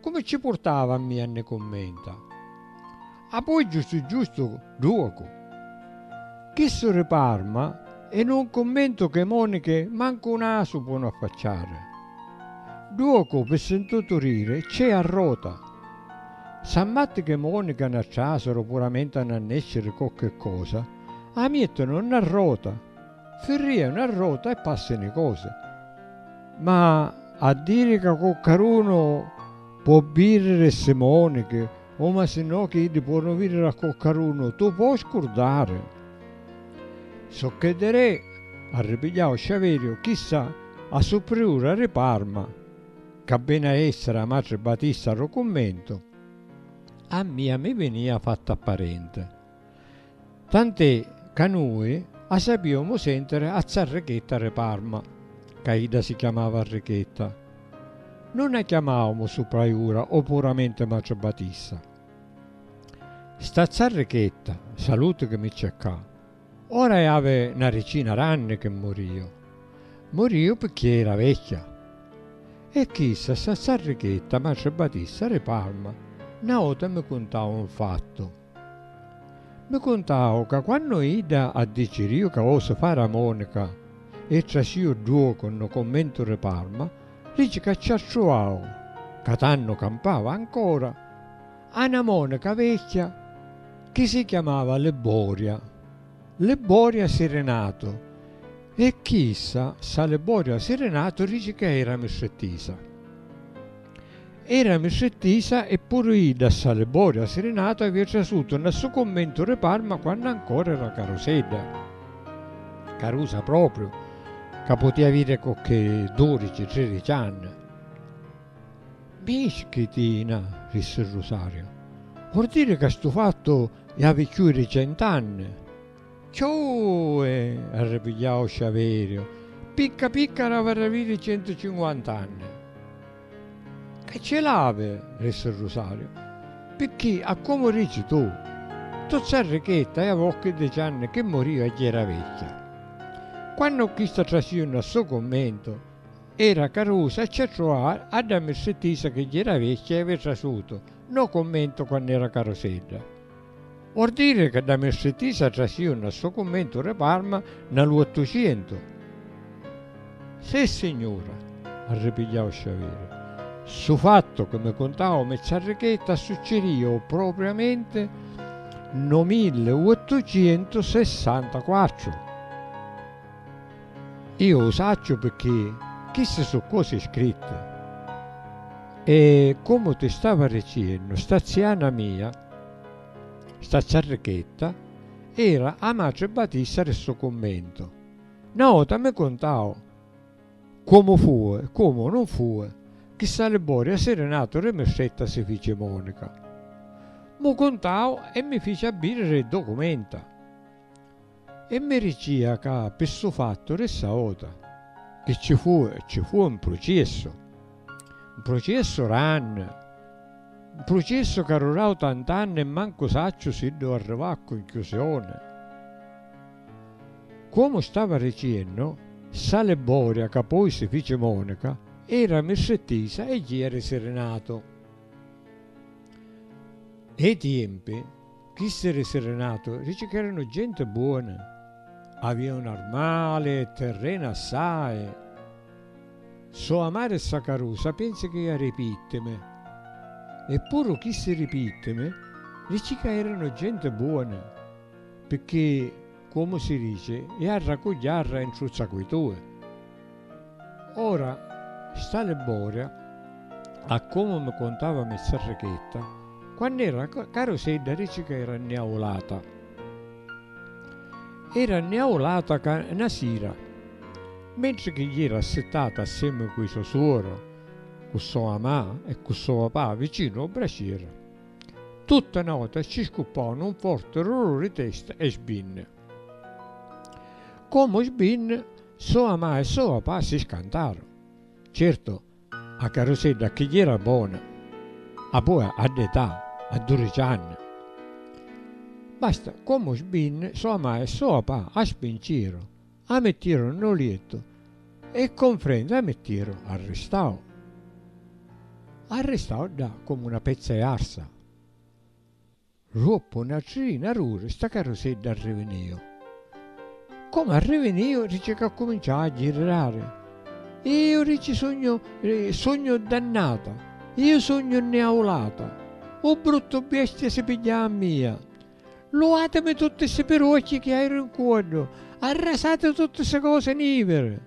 Comu ci purtava a mia nni cummenta. Appoi giustu giustu duocu. Chissu ri Parma è nu cummento ch'e moniche mancu u nasu ponu affacciare. Duocu pi sintutu rire c'è a rota. S'ammatti ch'e moniche nna trasero puramenti a nna nesciri cocche cosa, a miettinu nna rota. Firrianu a rota e passinu i cosi. Ma a diri ca coccarunu po' birriri e si monichi, o ma si no chi iddi puonu viriri a coccarunu, tu po' scurdari. Socchè di re, arripigliau sciaveriu, chissa a su priura ri Parma, ca veni a essiri a matri batista ro cummentu, a mia mi vinia fatta parenti. tant'è ca nui a sapìomu sèntiri a za Rechetta ri Parma, ca idda si chiamava Rechetta. Nun a chiamàumu supraiura o puramenti matri Batista. Sta za Rechetta, saluti chi mi cercà, ora è avi na ricina d'anni chi murìu. Murìu picchì era vecchia. E chissa, sta za Rechetta, matri Batista ri Parma, na vota mi cuntau un fattu. Mi cuntau ca quannu idda addiciriu ca vosi fari a Monica e trasciu ddue cu nu commentu ri Parma, dici ca ci attruvau ca tannu campava ancora a na Monica vecchia chi si chiamava Libboria, Libboria Sirinatu, e chissa, ssa Libboria Sirinatu, dici ca era mistrittisa. Era mistrittisa e puru idda a Salibori, a Sirinatu, avia trasutu nna ssu cummentu ri Parma quannu ancora era carusedda, carusa propriu, ca putia aviri cocchi dudici, tridici anni. Mi isciti na, rissi Rusariu. Vor diri ca stu fattu i havi cchiui ri cent'anni? Cchiui! arripigliau Sciaveriu. Picca picca havi raviri centucinquant'anni. E ci l'havi, rissi Rusariu, picchì a comu dici tu, tozza ricchetta è a vocchi di cianni chi moriu a jera vecchia. Quannu chista trasiu nna stu cummentu, era carusa a ci attruvare a dda mirsi tisa chi jera vecchia havi trasutu nno cummentu quann'era carusedda. Vuol diri ca dda mistritisa trasìu nna stu cummentu ri Parma nna lu Ottucientu? Sissignura! arripigghiau Sciaveri. Stu fattu chi mi cuntau a Mizza Arrichetta assuccidìu propriamenti nno milli uottucientu sessantaquattru. Iu u sacciu picchì chisti su cosi scritti. E comu ti stava riciennu, sta ziana mia, Sta ciarrichetta era a matri Batista ri stu cummentu. Na vota mi cuntau comu fui, comu nun fui, chi sta Liboria siri natu ri mistretta si fici Monica. Mu cuntau e mi fici a biri ri documenta. E mi ricia ca pi ssu fattu rissa auta. Chi ci fu ci fu un pruciessu. Un pruciessu ranni. Un pruciessu ca rurau tant'anni e mancu sacciu siddu arrivau a cunchiusioni. Comu stava riciennu, ssa Liboria ca poi si fici monica era mistrittisa e jia ri Sirinatu. E i tiempi. Chissi ri Sirinatu rici ch'eranu genti buoni, avianu armali e tirreni assai. So amari ssa carusa pensi chi ia ri pittimi. E puru chissi ri pittimi rici ca eranu genti buoni, picchì Comu si dici, jarra cu jarra intruzza cu i tui. Ora, sta Libboria, a comu mi cuntava Mizzarrichetta, quannu era carusedda dici ca era nniaulata. Era nniaulata ca 'na sira, mentri chi jera assittata assiemi cu i so suoru, cu so mamà e cu so papà vicinu o bracieri, Tutt' 'a nota ci scuppò nu forte rullo ri testa e sbinn. Comu sbinn, soa ma e soa pa si scantar. Certo, 'a carusedda a chigli era bona, a boa a dd'età, a durici anni. Basta, comu sbinn, soa ma e soa pa a spinciro. A mettiru nno liettu e con frenta a mettiru arristau. Arristau ddà comu na pezza e arsa. Ruoppu na tri na ruri sta carusedda arriviniu. Comu arriviniu dici ca cuminciau a ghirrari. Iu dici sugnu sugnu dannata, iu sugnu nniaulata, u bruttu biestia si pigghiau a mia, Luatimi tutti ssi piruocchi chi hairu in cuoddu, arrasati tutti ssi cosi niviri.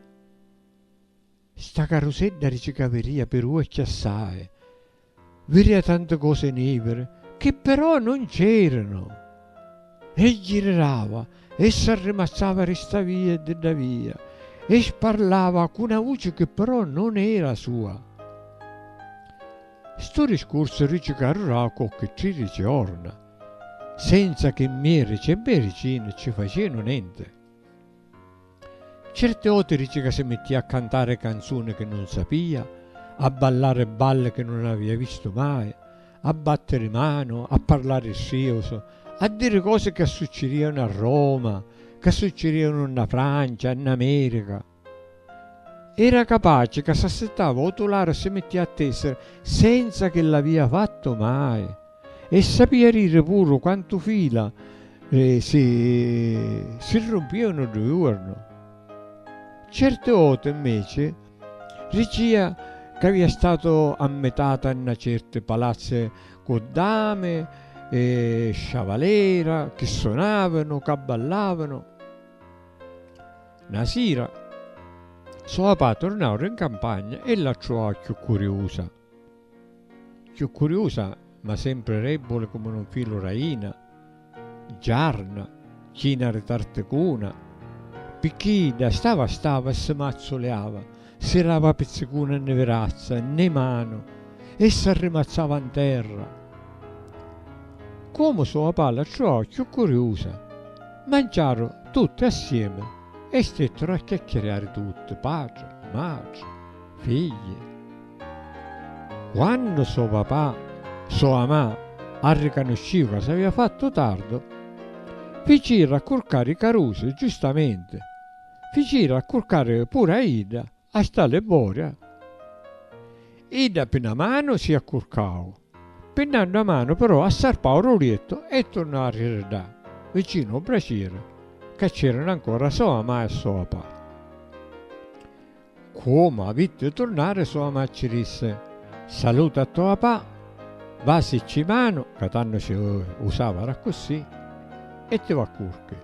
Sta carusedda di cica viria piruocchi assai, viria tanti cosi niviri chi però non c'eranu. E girirava e s'arrimazzava di sta via e di dda via e sparlava cu na vuci chi però non era a sua. Stu discursu rici caruraa qualchi tririci jorna. Senza che mmierici e mmierici nun ci facienu nenti. Certi oti dici ca si mittia a cantari canzuni chi nun sapia, a ballari balli chi nun avia vistu mai, a battiri manu, a parlari striusu, a diri cosi ca succirianu a Roma, ca succirianu nna Francia, nna Merica. Era capaci ca s'assittava ô tularo e si mittia a tèsiri senza chi l'avia fattu mai. E sapia diri puru quantu fila si si rumpìanu ddu juornu. Certi voti, mmeci, dicìa ca avia statu ammitata in na certi palazzi cu dami e sciavalera chi sunavanu, ca ballàvanu. Na sira, so papà turnau ri 'ncampagna e la truau cchiù curiusa. Cchiù curiusa, ma sempri rebbuli comu nu filu r'ajina, giarna, china ri tarticuna, picchì idda stava stava e si mazzuliava Si lava pizzicuna nni virazza nni manu e s'arrimazzava 'n terra. Comu so' 'a palla ttruvau cchiù curiusa, manciaru tutti assiemi e stetturu a chiacchiriari tutti, patri, matri, figli. Quannu so' papà, so' amà arricanusciu ca s'avia fattu tardu, ficiru a curcari i carusi, giustamenti, Ficiru accurcari puru a idda a sta liboria. Idda pi na manu si accurcau, pi n'àddha manu però assarpau ru liettu e turnau a rridda vicinu u bracieri ca c'eranu ancora so amà e so apà. Cuomu avitti turnari sua macci dissi, Saluta a to apà, vasicci manu, ca tannu ci usavara accussì, e ti va curchi.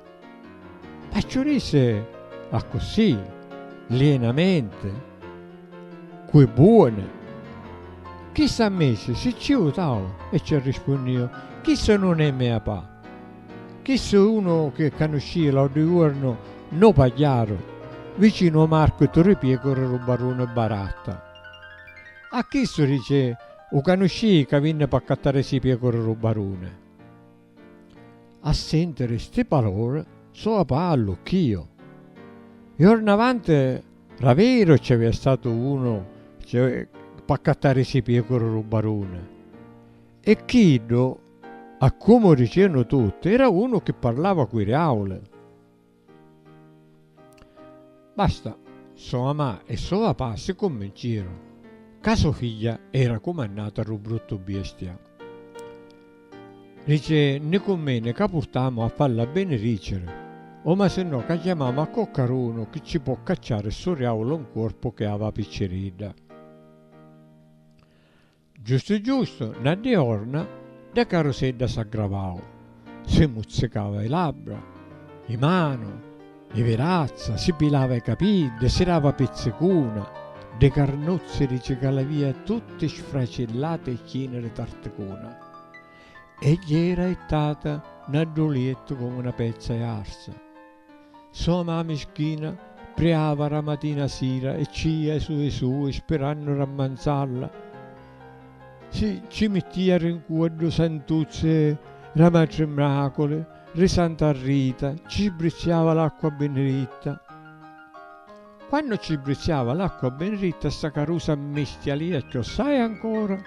Ma ciù dissi accussì lienamenti, Cu i buoni. Chissa misi si ciutau e ci arrispunniu, Chissa nun è mia apà. Chissu è unu chi canuscìa l'àutru juornu no pagliaru vicinu ô marchitu ri Piecura ru baruni Baratta. A chissu dici, u canuscìi ca vinni p'accattarisi Piecura ru baruni? A sèntiri sti palori so apa allucchìu. Juornu avanti ra veru ci avìa statu unu p'accattarisi Piecura ru baruni e chiddu A comu dicenu tutti, era unu chi parlava cu i riauli. Basta, so mamà e so papà si cunvinciru ca so figghia era cumannata a ddu bruttu biestia. Dici, Ni cunveni ca purtamu a falla benidiciri, o masinnò ca chiamamu a coccarunu chi ci po' cacciari ssu riaulu 'n cuorpu chi havi a picciridda. Giustu giustu, na diorna, dda carusedda s'aggravau, si muzzicava i labbra, i manu, i virazza, si pilava i capiddi, si dava pizzicuna, ddi carnuzzi di cicalavia tutti sfracillati e chini di tarticuna, e jera ittata n'addoliettu comu na pezza i arsa. So ma mischina priava ra matina sira e ccia e sui sui spirannu rammanzalla si cci mittia ri ncua du santuzzi ra matri mraculi ri santa rita cci sbrizziava l'acqua biniritta quannu cci sbrizziava l'acqua biniritta sta carusa mmistialia cchiossai ancora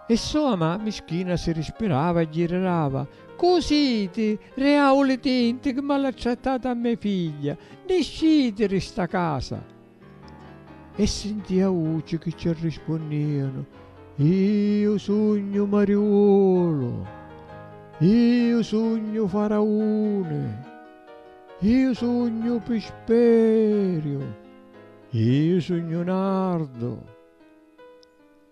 e so ma mischina si rispirava e ghirirava Cu siti reauli tinti chi maltrattati a me figlia, nisciti ri sta casa! E sintia vuci chi ci arrispunnianu, Iu sugnu Mariulu, iu sugnu Farauni, iu sugnu Pisperiu, iu sugnu Nardu.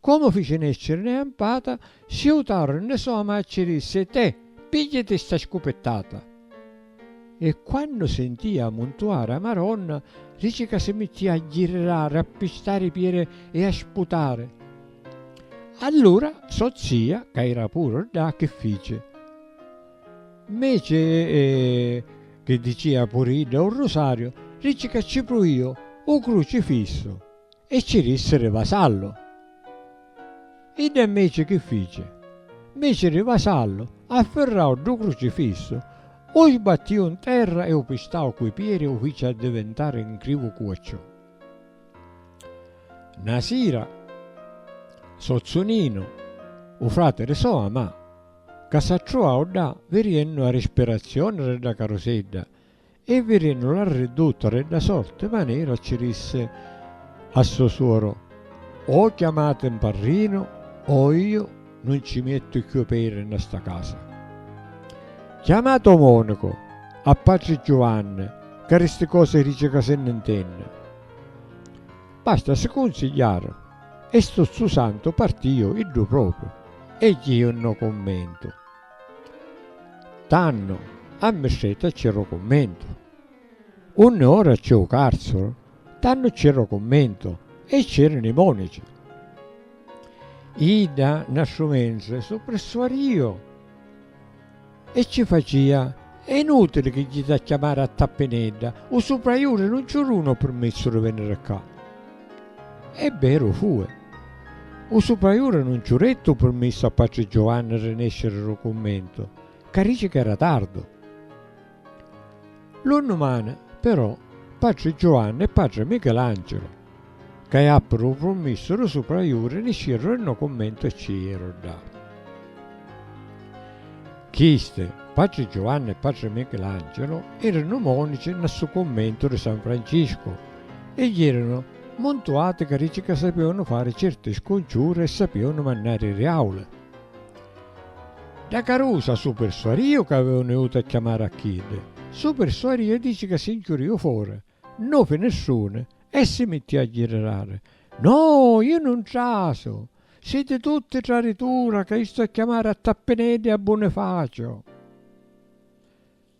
Comu fici nesciri ne ampata, si iutaru nne soma e ci dissi, Te, pigghiati sta scupittata! E quannu sentì ammuntuari a Maronna, dici ca si mittì a ghirrari, a pistari i pieri e a sputari. Allura so zia, ca era puru ddà, chi fici? Mmeci chi dicia puru idda u rusariu, dici ca ci pruiu u crucifissu! E ci rissi ri vasallu. Idda inveci chi fici? Nveci ri vasallu, affirrau ddu crucifissu, u sbattiu n terra e u pistau cu i pieri e u fici addivintari n crivu cu acciù. Na sira, sozzu Ninu, u frati ri so amà, ca s'attruau ddà viriennu a rispirazioni ri dda carusedda, E vidennu la ridduta de dda sorti manera ci dissi a so suoru, O chiamati 'n parrinu o io nun ci miettu cchiù peri nna sta casa. Chiamati 'o monicu, a patri Giuvanni ca di sti cosi dici ca si nni 'ntenni. Basta si cunsigliaru e stu zzu santu partiu iddu propriu e jiu nno cummentu. Tannu a mistretta cci ru cummentu. Unni ora cci u carcuru, tannu cci ru cummentu e cci rinu i monici. Idda nastru mentri su prissuariu e cci facia, è inutili chi jiti a chiamari a Tappinedda, u supraiuri nun cci runu u pirmissu di veniri ccà. E beru fue. U supraiura nun ciu rettu u purmissu a patri Giovanni ri nesciri ru cummentu, ca rici ca era tardu. Lu nnumani, però, patri Giovanni e patri Michilancilu, ca iappiru u purmissu ru supraiuri nisciru ri no cummentu e ci iru dda. Chisti, patri Giovanni e patri Michilancilu, eri nu monici nna ssu cummentu ri San Franciscu, e ieranu muntu ati ca dici ca sapiunu fari certi scunciuri e sapiunu mannari ri auli. Da carusa su pirsuariu ca avevunu iutu a chiamari a chiddi, su pirsuariu dici ca si nchiuriu fora nu finistruni e si mittiu a ghirrari, No, iu nun trasu! Siti tutti traritura ca istu a chiamari a Tappineddu e a Bunifacio!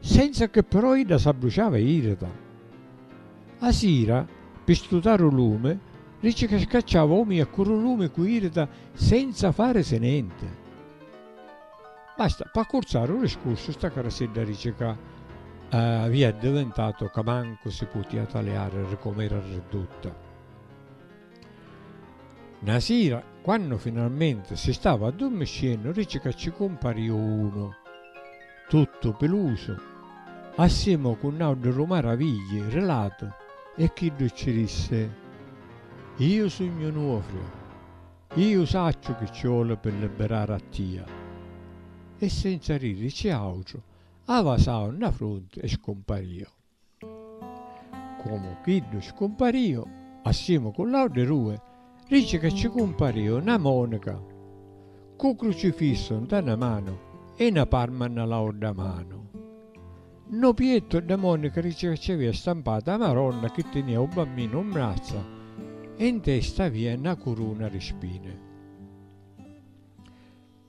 Senza che però idda s'abbruciava e irrita. A sira, pi stutari u lumi, dici ca scacciava omi e accurri u lumi cu irrita senza farisi nenti. Basta, p'accurzari u discursu sta carasidda dici ca avia addivintatu ca mancu si putia taliari ri com'era riddutta. Na sira, quannu finalmenti si stava addurmiscennu, dici ca ci cumpariu unu. tuttu pilusu, assimu cu n'auddu ru maravigli rilatu e chiddu cci dissi, Iu sugnu Nuofrio, iu sacciu chi cci voli pi libirari a tia. E senza dirici autru, avasau nna frunti e scumpariu. Comu chiddu scumparìu, assimu cu l'autri dui, dici ca ci cumparìu na monica, cu crucifissu nta na manu e na parma nna l'audda manu. Nnu piettu dda monica dici ca ci avìa stampatu a Maronna chi tinìa u Bamminu mmrazza e ntesta avìa na curuna di spini.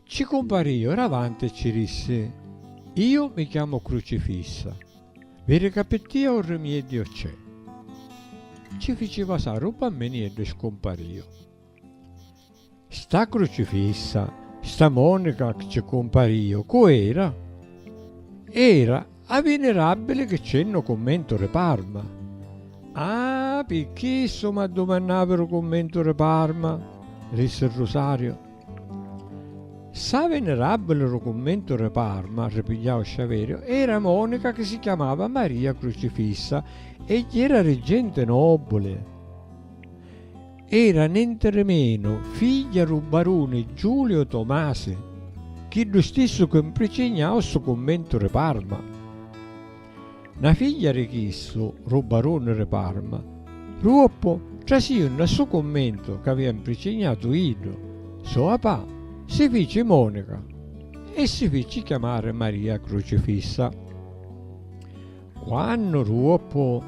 Ci cumpariu ravanti e ci rissi, Iu mi chiamu Crucifissa, vi ricapittia u rimieddiu c'è. Ci fici vasari u bammini eddu scumpariu. Sta Crucifissa, sta Monica cci cumpariu, cu era? Era A vinirabili chi c'è nno cummentu ri Parma? Ah, pi chissu m'addumannavi ru cummentu ri Parma, rissi Rusario. Ssa vinirabili ru cummentu ri Parma, ripigliau Sciaverio, era monica chi si chiamava Maria Crucifissa e jera ri genti nobuli. Era nentremenu figghia ru baruni Giulio Tomasi, chiddu stissu chi mpricignau stu cummentu ri Parma. Na figghia ri chissu, ru baruni ri Parma, ruoppu trasiu nna stu cummentu c'avia mpricignatu iddu, so papà si fici monica e si fici chiamari Maria Crucifissa. Quannu duoppu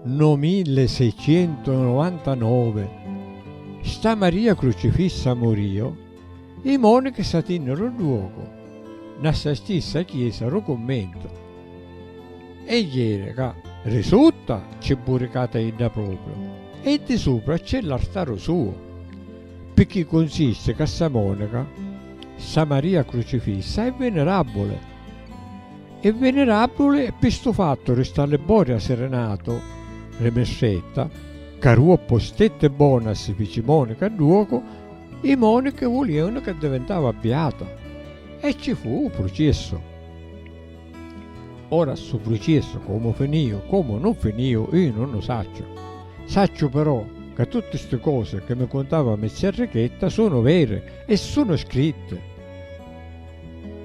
no milleseicentunovantanove sta Maria Crucifissa murìu, i monichi s'atìnniru dduocu nna ssa stissa chiesa ru cummentu e jeri ca ri sutta cci buricata idda propriu e di supra cci l'artaru suu, picchì cunsisti ca ssa monica, ssa Maria Crucifissa, è viniràbbuli. E venerabuli e pi stu fattu ristò a Libori assirinatu ri mistretta, ca ru oppostetti bonu a si fici monica a duocu, i monichi vuliunu ca divintava biatu e ci fu u prucissu. Ora stu prucissu comu finiu comu nun finiu iu nun u sacciu, sacciu però ca tutti sti cosi chi mi cuntava mizia Enrichetta sunu veri e sunu scritti.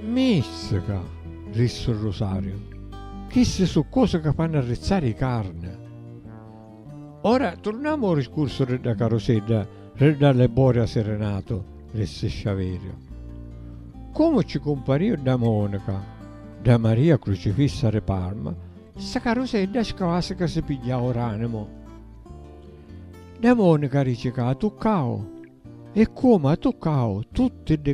Mìstica! rissi Rusariu. Chissi su' cosi ca fannu arrizzari i carni. Ora turnamu ô riscursu ri dda carusedda ri dda Lebori a Sirinatu, rissi Sciaveriu. Comu cci cumpariu dda Monica, dda Maria Crucifissa ri Parma, sta carusedda sclàssica si pigghiau r'animu. Dda Monica dici ca a tuccau e comu a tuccau tutti ddi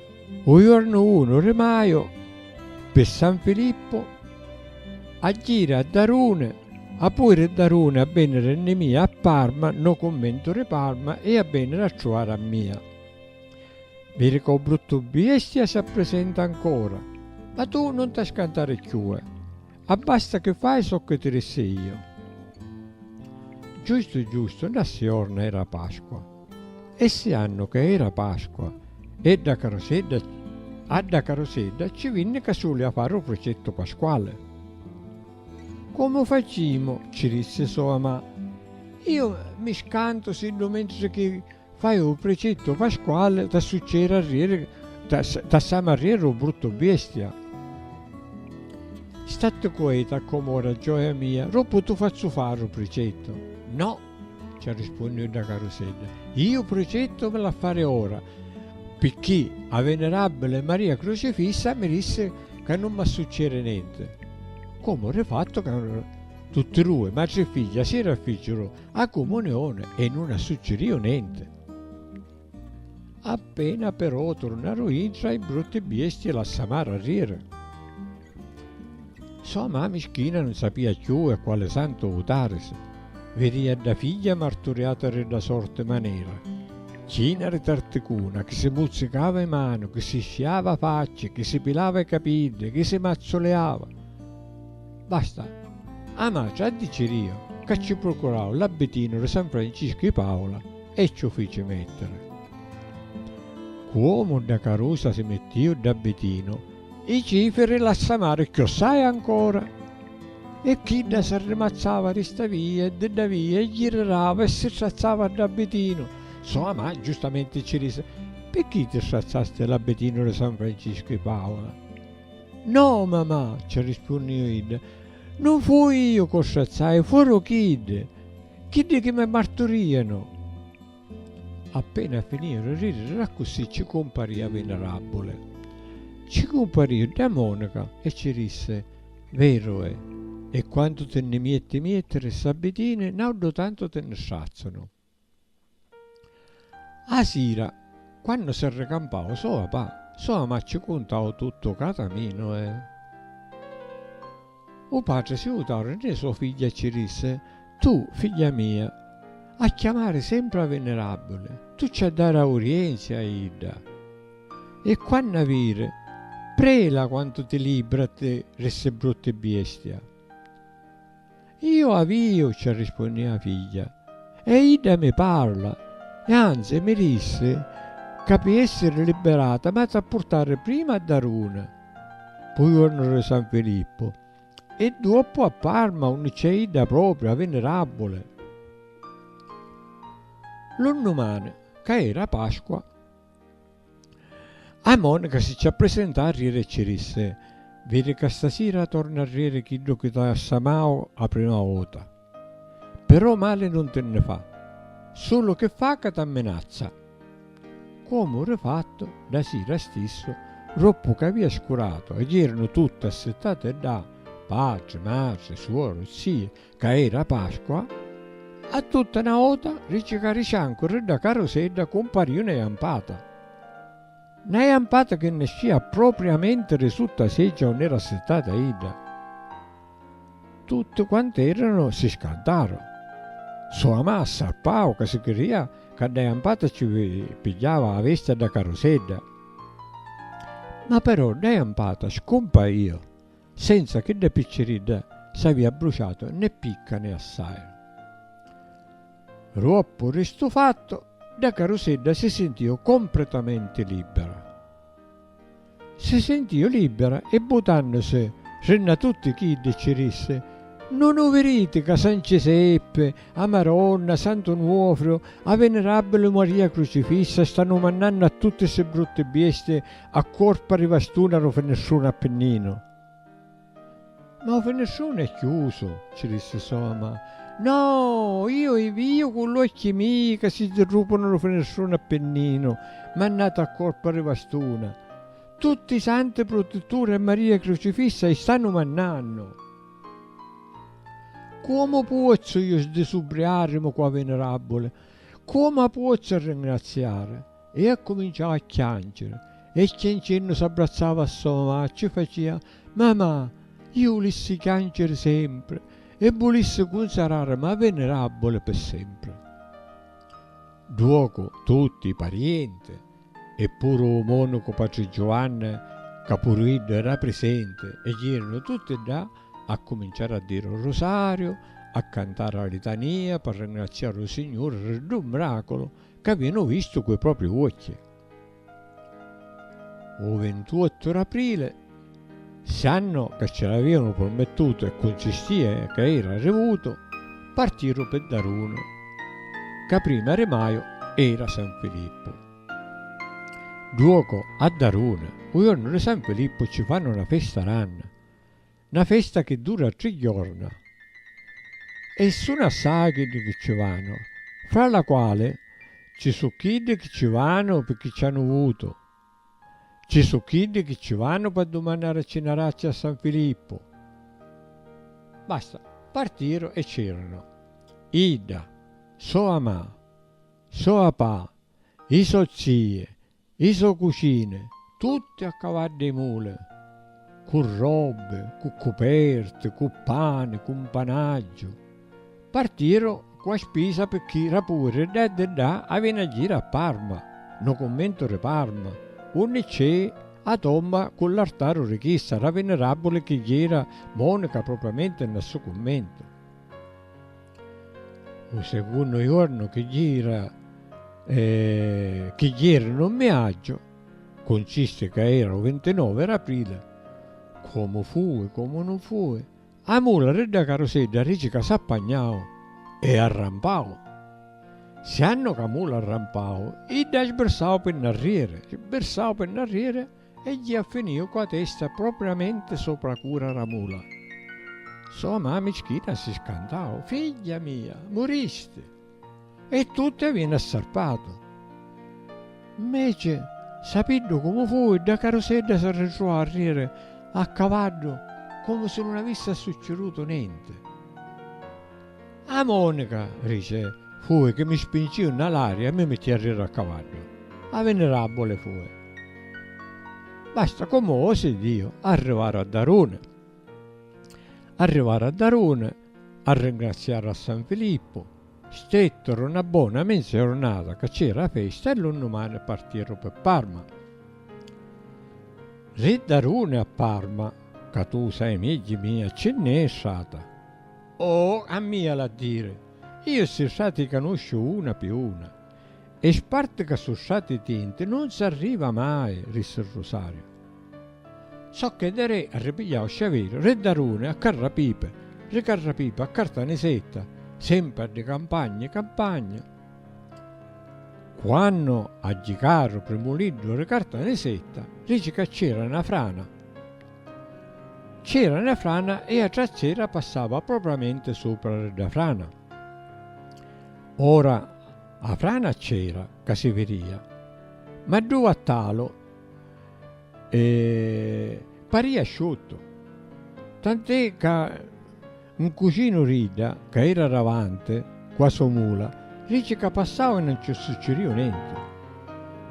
U jornu unu ri maju pi San Filippu a jiri a Daruni a pui ri Daruni a veniri nni mia a Parma no cummentu ri Parma e a veniri a truari a mia. Viri ca u bruttu biestia s'appresenta ancora ma tu non ta scantari cchiue abbasta chi fai socchi ti rissi io. Giustu giustu na siorna era Pasqua. E ssi annu ca era Pasqua e dda carusedda a dda carusedda ci vinni Casuli a fari u prucettu pasquali. Comu facimu, ci rissi so amà, iu mi scantu siddu mentri chi fai u prucettu pasquali t'assucceri arrieri t'assamu arrieri u bruttu biestia. Statti cueta comu ora gioia mia, roppu tu fazzu fari u prucettu. No! Ci arrispunniu dda carusedda, Iu prucittu mi l'ha fari ora, picchì a venerabbili Maria Crucifissa mi dissi ca nun m'ha succeri nenti. Comu ri fattu ca tutti dui, matri e figghia, si rafficiru a cumunioni e nun ha succiriu nenti. Appena però turnaru intra i brutti biesti la samaru a riri. Sò ma mischina nun sapia cchiù a quali santu vutarisi, vidìa dda figlia marturiata ri dda sorti manera, china ri tarticuna, chi si muzzicava i manu, chi si sciava a facci, chi si pilava i capiddi, chi si mazzuliava. Basta, a matri addicirìu ca cci prucurau l'abbitinu ri San Franciscu i Paula, E ci 'u fici mettiri. Cu omu dda carusa si mittiu dda bitinu. I cifiri l'assamari chiossai ancora. E chidda s'arrimazzava di sta via e di dda via e girirava e si strazzava dda bitinu. So amà giustamenti ci disi, Picchì ti strazzasti la bitinu di San Franciscu 'i Paula? No, mamà, ci rispunniu idda, nun fui iu c'u strazzai, furu chiddi. Chiddi chi mi marturianu! Appena finiu di ridiri d'accussì cci cumpari a Vinarabuli. Cci cumpariu ddà monaca e cci dissi, Veru è, e quantu ti nni mietti miettiri ss'abbitini, nauddhu tantu ti nni strazzanu. A sira, quannu si arricampau so apa, so ama ci cuntau tuttu ca caminu e. U patri si jutau rinni so figghia e ci dissi, Tu, figghia mia, a chiamari sempri a Vinirabili, tu ci a dari aurienzi a idda, e quannu a viri, prela quantu ti libra ti rissi brutti biestia. Iu avìu, ci arrispunnì 'a figghia, e idda mi parla, e anzi mi dissi ca pi essiri libirata m'hatu a purtari prima a Daruna, p'u juornu di San Filippu, e duoppu a Parma unni cc'è idda propriu, 'a Vinirabuli. Lu nnumani, ca era Pasqua. A Monica si ci appresenta arrieri e ci dissi, Viri ca stasira torna arrieri chiddu chi t'ha ssamau a prima vota. Però mali nun ti nni fa. Sulu chi fa ca t'amminazza. Comu ri fattu, dda sira stissu, roppu ca avia scuratu, aggirinu tutti assittati ddà, patri, matri, suoru, zii, ca era Pasqua, a tutta na ota ri cicariciancu ri dda carusedda cumparìu na jampata. Na jampata chi nescìa propriamenti ri sutta a seggia unni era assittata idda. Tutti quant'eranu si scantaru. Sua mah s'arpau ca si cridìa ca dda jampata ci pigghiava a vesti a dda carusedda. Ma però dda jampata scumpaìu. Senza chidda picciridda s'avia abbruciatu né picca né assai. Ruoppu ri stu fattu, dda carusedda si sintiu compretamenti libbera. Si sintiu libbera e butannusi ri nna tutti chiddi ci rissi, Nun u viriti ca San Ciseppi, a Maronna, Santu Nuofriu, a Venerabbili Maria Crucifissa stannu mannannu a tutti ssi brutti biesti A cuorpa ri vastuna ru finestrunu Appinninu. Ma u finestrunu è chiusu, ci dissi Soma. No! Io i viju cu l'uocchi mii ca si zirrupunu ru finestrunu Appinninu, mannatu a cuorpa ri vastuna. Tutti i santi prutituri e Maria Crucifissa i stannu mannannu! Comu puozzu io sdisubriarimu cu a Vinirabuli? Comu a puozzu arringrazziari? E accuminciau a chianciri, e chiancennu s'abbrazzava a so mamà e ci facia, Mamà, iu vulissi chianciri sempri, e vulissi cunsararimi a Venerabuli pi sempri. Duocu tutti i parienti, e puru u monacu patri Giuvanni, ca puru iddu era prisenti, e jirinu tutti ddà, accuminciaru a diri u rusariu, a cantari a litania, pi ringraziari u Signuri ri ddu miraculu, C'avìanu vistu cu 'i propri uocchi. U vintuottu d'aprile, sannu ca ci l'avìanu purmittutu e cuncistìa ca era arrivutu, partiru pi Darunu, ca prima di maju era San Filippu. Duocu a Darunu, u jornu di San Filippu ci fannu na festa ranna. Na festa chi dura tri jorna e sunu assai chiddi chi ci vanu, fra la quali ci su chiddi chi ci vanu pirchì ci anu vutu, ci su chiddi chi ci vanu p'addumannari ci na razzi a San Filippu. Basta, partiru e c'erunu idda, so amà, so apà, i so zii, I so cucine, tutte a cavadda 'i mule, cu robbe, cu cuperte, cu pane, cu 'mpanaggiu, partiru cu 'a spisa picchì ra pure ddà e di ddà avìanu a jiri a Parma, no cummentu ri Parma, unni cc'è 'a tomba cu l'artaru ri chissa ra Viniràbbuli chi jira Monica propriamenti nna ssu cummentu. U secunnu juornu chi gira e chi jiri nu mmiaggiu, cuncisti ca era u vintinovi d'aprile, comu fui, comu nun fui, a mula ri dda carusedda dici ca s'appagnau e arrampau. Siannu ca mula arrampau, idda sbirsau pi nnarriri, sbirsau pi nnarriri, E ji a finiu cu a testa propriamenti sopra a cura ra mula. So a mami cchita si scantau, Figghia mia, muristi! E tutti avinu assarpatu. Mmeci, sapiddu comu fui, dda carusedda s'arritruvau a riri a cavaddu comu si nun avissi assuccidutu nenti. A Monica, rice, fui chi mi spinciu nna l'aria e mi mitti arrira a cavaddu. A vinirabuli fui. Basta comu osi Diu, arrivaru a Daruni. Arrivaru a Daruni, arringraziaru a San Filippu, stetturu nna bona minza jurnata ca cci era festa e lu nnumani partiru pi Parma. Ri Daruni a Parma, ca tu sai megghji mia cci nn'è strata. Oh, a mia l'ha diri! Io ssi strati canusciu una pi una. E sparti ca su strati tinti nun s'arriva mai, rissi Rusario. Socchè de re a ripigliau sciaviru, re Daruni a Carrapipi, re Carrapipi a Cartanisetta, sempri a di campagna i campagna. Quannu aggicaru primuliddu re Cartanisetta, dici ca c'era na frana. C'era na frana e a trazzera passava propramente supra dda frana. Ora a frana c'era, ca si viria, ma ddu vattalu paria sciuttu, tant'è ca Un cucinu d'idda, ca era davanti cu 'a so mula, dici ca passau e non ci succiriu nenti.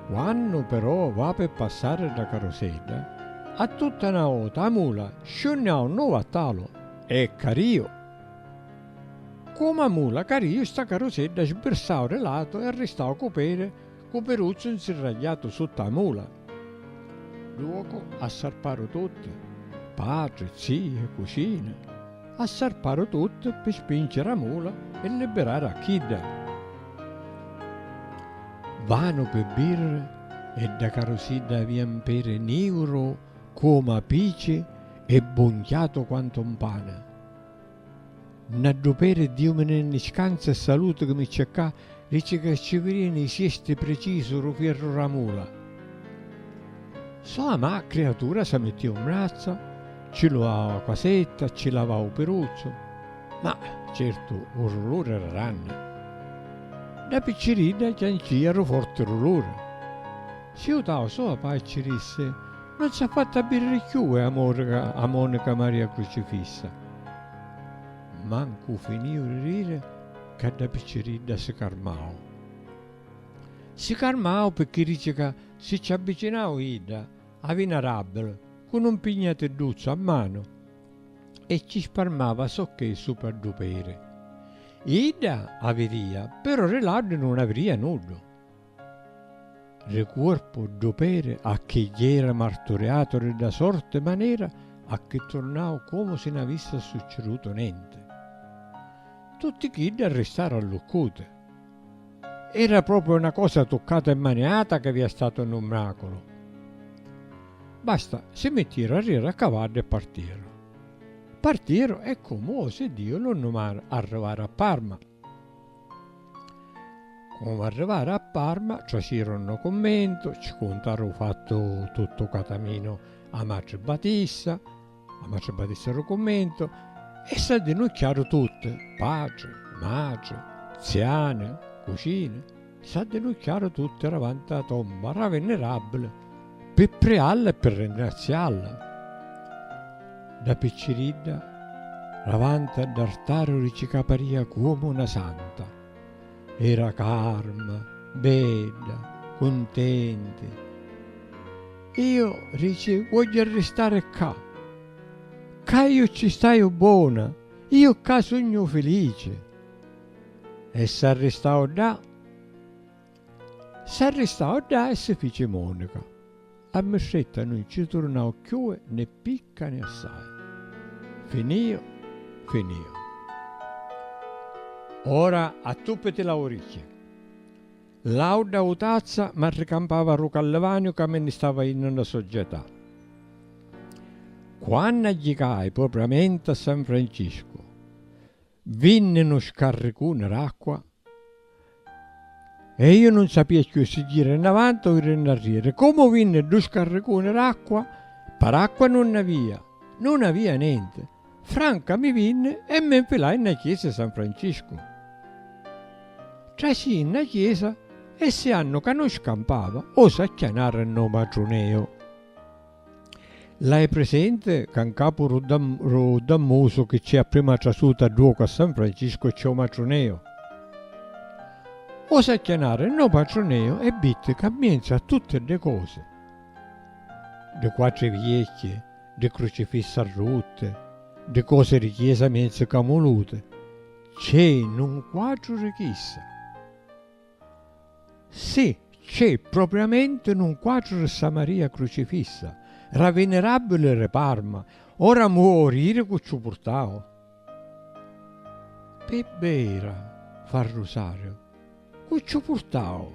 Quannu però va pi passari dda carusedda, a tutta 'na vota 'a mula sciunniau 'nu vattalu e cariu. Comu 'a mula cariu, sta carusedda sbirsau di latu e arristau cu pedi Cu Piruzzu 'nsirragliatu sutta 'a mula. Duocu assarparu tutti, patri, zii e cucini, assarparu tutti pi spinciri 'a mula e libirari a chidda. Vanu pi birri e dda carusidda avia 'n peri niuru comu 'a pici e bunchiatu quantu 'n pani. N'adduperi diumini nni scanza e salutu chi mi cercà, dici ca ci virini i siesti precisu ru fierru ra mula. Soamà criatura sa mittia un brazzu, ci luau a quasetta, ci lavau u piruzzu, ma certu u ruluri era ranni. Da picciridda già ncia ru forti ruluri. Si jutau soapà e ci dissi, Non s'ha fattu abbiriri cchiù e amori ca a monica Maria Crucifissa. Mancu finìu di riri ca dda picciridda si carmau. Si carmau pirchì dici ca si ci avvicinau idda avi na ràbbila cu nu mpignatidduzzu a manu e ci sparmava socchè supra ddu peri. Idda avirìa, però di laddu nun avirìa nuddu. Ri cuorpu ddu peri a chi jera marturiatu ri dda sorti manera a chi turnau comu si n'avissi assuccidutu nenti. Tutti chiddi arristaru alluccuti. Era propriu na cosa tuccata e maniata chi avia statu nnu mraculu. Basta, si mittiru arriera a cavaddu e partiru. Partiru e comu osi Diu lu nnumari arrivaru a Parma. Comu arrivaru a Parma, traciru nu cummentu, ci cuntaru u fattu tuttu cataminu a matri Batista, a matri Batista ru cummentu, e s'addinucchiaru tutti, patri, matri, ziani, cucini. S'addinucciaru tutti davanti a la tomba ra Vinirabili pi prialla e pi ringrazialla. Da picciridda davanti a dd'artari ricicapariha cuomu na santa. Era carma, bedda, cuntenti. Io, dici, vogghiu arristari ccà. Ccà io cci staiu bona, io ccà sugnu filici. E s'arristau ddà. S'arristau ddà e si fici monica. A mistretta nun cci turnau cchiù né picca né assai. Finìu, finìu. Ora attùppiti l'auricchia. L'àudda autazza m'arricampava a ru callivaniu ca mi nni stava jinnu nna Società. Quannu agghicai propriamenti a San Franciscu, Vinni nu scarricuni d'acqua e iu nun sapia cchiù si jiri nn'avanti o jiri nn'arrieri. Comu vinni ddu scarricuni d'acqua, paracqua nun nn'avia, nun avia nenti. Franca mi vinni e mi nfilai nna chiesa i San Franciscu. Trasii nna chiesa e siannu ca nun scampava, o s'acchianari nn'o matruneu. L'hai presente ca 'ncapu ru ru dammusu chi c'è a prima trasuta dduocu a San Francisco c'è u matruneu. Osi acchianare no patruneu e vitti ca mienzu a tutti dde cosi, ddi quattri viecchi, ddi crucifissi arrutti, ddi cosi ri chiesa mienzu camuluti, c'è nu quatru ri chissa. Si, c'è propriamenti nun quatru ri ssa Maria Crucifissa, ra Venerabili ri Parma, ora mu o riri cu ciù purtau. Pi bbeira fa rusariu, cu ciù purtau,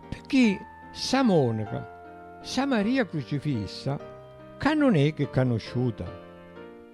picchì ssa Monica, ssa Maria Crucifissa, ca nun è chi canusciuta.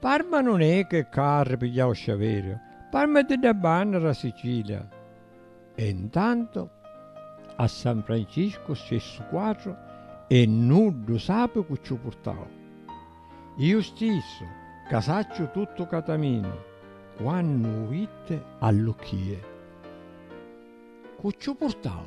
Parma nun è che carri pigliau sciaverio, Parma è dda banna ra Sicilia. E ntanto a San Francisco scessu quatru e nuddu sapi cu ciu purtau. Iu stissu, ca sacciu tuttu Cataminu, quannu u vitti allucchie. Cu ciu purtau?